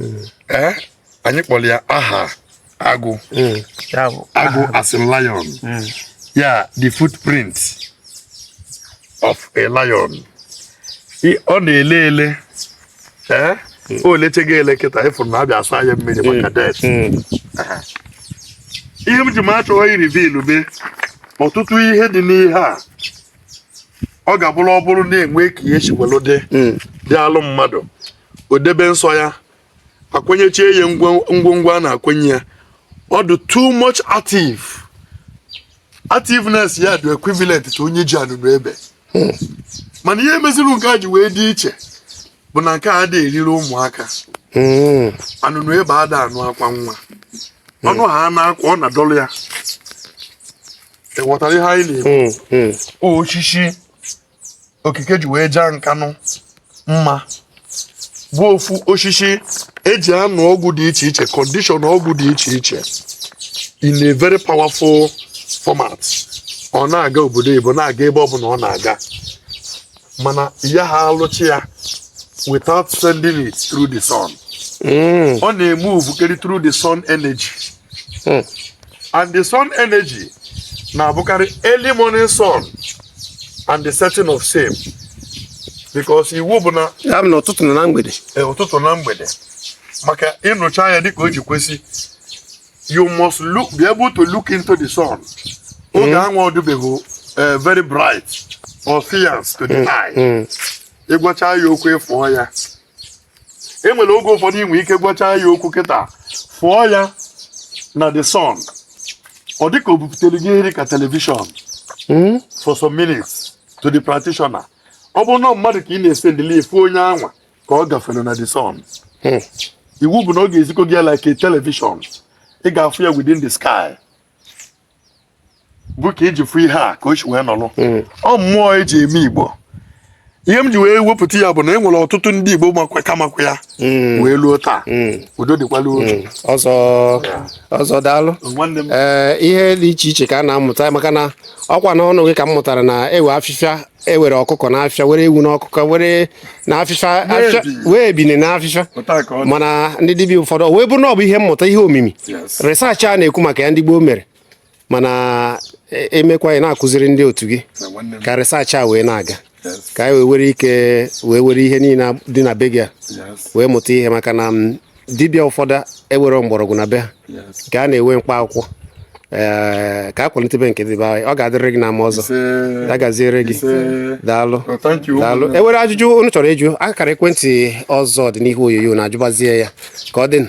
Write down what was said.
ee eh, anyị kpọrọ ya aha agụ hmm. agụ as in lion hmm. ya the footprint of a lion ọ na-ele ele ee eh? hmm. o lecheghị ele kịta ịfụrụ na a bịa asa ya mmiri maka det ihe m ji m achọghị ịreveal be ọtụtụ ihe dị n'ihe a ọ ga-abụrụ ọ bụrụ na e nwee ka ihe si dị dị alụ mmadụ o debe nsọ ya akwenyechie ya ngwongwo a na-akwenye ya ọ dị too much active activeness ya dị equivalent to onye ji anụnụ ebe hmm. mana ihe meziri nke a ji wee dị iche bụ na nke a dị eriri ụmụaka hmm. anụnụ ebe ada anụ akwa nwa hmm. ọnụ ha na-akwa ọ na-adọrọ ya ịghọtara ihe anyị na-ekwu osisi okike ji wee jaa Nkanụ mma bụ ofu osisi eji anụ ọgwụ dị iche iche condition ọgwụ dị iche iche in a very powerful format ọ na-aga obodo Igbo na-aga ebe ọ bụla ọ na-aga mana ya ha alụcha ya without sending it through the sun hmm. ọ na-emovekarị through the sun energy hmm. and the sun energy na-abụkarị early morning sun and the setting of same because iwu bụ na ya bụ na ụtụtụ na na mgbede eh, ụtụtụ na mgbede maka ịnụcha ya dịka o ji kwesị you must look be able to look into the sun oge hmm. anwụ adịbeghị eh, very bright or fierce to the hmm. eye hmm. ịgwacha ya okwu ịfụọ ya e nwere oge ụfọdụ i nwe ike gwachaa ya okwu kịta fụọ ya na the sun ọ dịka o bupụtere gị nri ka television hmm? for some minutes to the practitioner ọ bụrụ na mmadụ ka ị na-esendịlị ya ị fụ onye anwa ka ọ gafere na the sun hmm. iwu bụ na ọ ga-ezikọ gị ya like a television ị ga-afụ ya within the sky bụ ka iji fụ ihe a ka o si wee nọrọ hmm. ọ mmụọ eji eme Igbo ihe m ji wee wepụta ya bụ na e nwere ọtụtụ ndị Igbo makwa ka makwa ya hmm. wee luo taa hmm. udo dịkwala otu ọzọ ọzọ daalụ ee eh, ihe dị iche iche ka a na-amụta maka na ọkwa n'ọnụ gị ka m mụtara na e nwe afịfịa e nwere ọkụkọ n'afịfịa nwere ewu n'ọkụkọ nwere n'afịfịa nwee ebini n'afịfa mana ndị dibịa ụfọdụ o wee bụrụ na ọ bụ ihe mmụta ihe omimi research a na-ekwu maka ya ndị gboo mere mana e mekwa ị ya na-akụziri ndị otu gị ka research a wee na-aga ka anyị wee were ike wee were ihe niile dị na be gị a wee mụta ihe maka na dibịa ụfọdụ ewere mgbọrọgwụ na be ha nke a na-ewe mkpa akwụkwọ ee ka a kwalitebe nke dị be anyị ọ ga-adịrị gị na mma ọzọ ya gaziere gị daalụ daalụ ewere ajụjụ unu chọrọ ịjụ akara ekwentị ọzọ dị n'ihu onyonyo na-ajụbazie ya ka ọ dịnụ